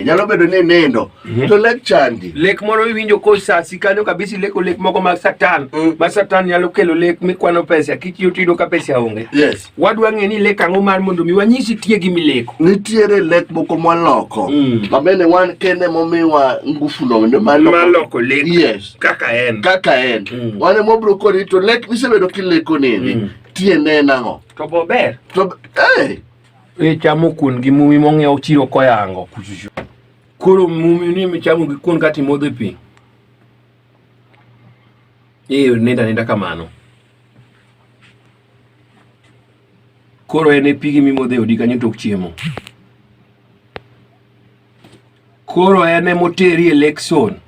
nyalo bedo ni nindo mhm. to lek chandi lek moro iwinjo kosasi kanyo kabisa ileko lek moko mag satan mm. ma satan nyalo kelo lek mikwano pesa kitiyo tiyudo ka pesa onge yes. wadwa ng'e ni lek ang'o mar mondo mi wanyisi tie gi mileko nitiere lek moko mwaloko mm. mamene wan kende momiwa ngufu no ndio maloko lek yes. kaka en kaka en mm. wane mobro koni to lek misebedo kileko nini mm. tiende nang'o To bo ber. To eh e chamo kuon gi mumi mong'iew chiro koyango kuchuchu. Koro mumi ni michamo gi kuon kati modho pi. Ee nenda nenda kamano. Koro en e pigi mimodho e odi kanyo tok chiemo. Koro en emoteri e Lexon.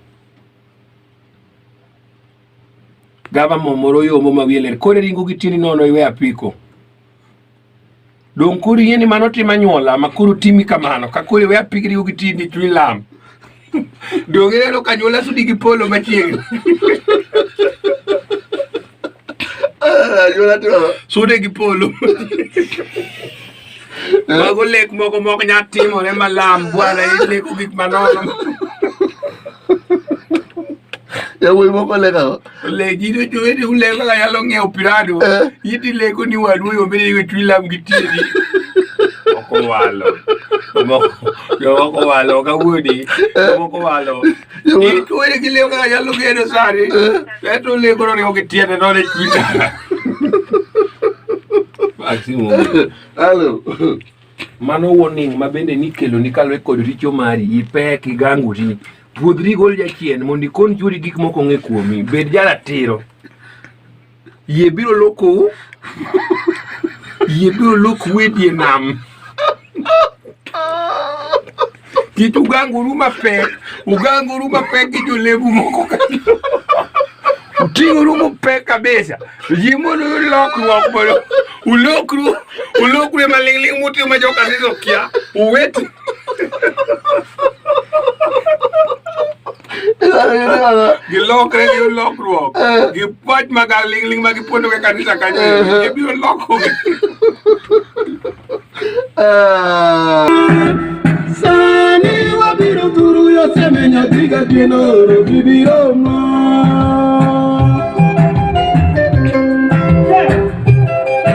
Gava momoro yomo ma wiye ler. Koro iringo gi tieni nono iwe apiko. Dong' koro iyie ni mano tim anyuola ma koro timi kamano ka koro iwe apiko iringo gi tieni chuny lam. Dong' ineno ka anyuola sudi gi polo machiegni. Anyuola to sudi gi polo. Mago lek moko mok nya timore malam bwana ileko gik manono. Yawuoyi moko lekago. Legi to jowete uleko kaka nyalo ng'iewo pirado. Eh. Iti leko ni wadu yo mbele iwe twi lam gi tiedi. Moko walo. Moko walo kawuodi. Eh. Moko walo. Mano warning ma bende nikelo ni kalwe kod richo mari ipek igangori puodhri gol jachien mondo ikon churi gik moko ng'e kuomi bed jaratiro Yie biro lokou. Yie biro lokou e die nam. Kik uganguru mapek. Uganguru mapek gi jolebu moko ka. Uting'uru mapek kabisa. Yie mondo uyud lokruok mondo ulokru ulokru e maling'ling' mutimo ma joka siso kia. Uwetu. Gilok re yo lokruok. Gipuach ma galingling ma gipuonjo ke kanisa kanyo. Gibiro loko. Sani wabiro turu yo seme nyathi ga geno oro bibiro ma.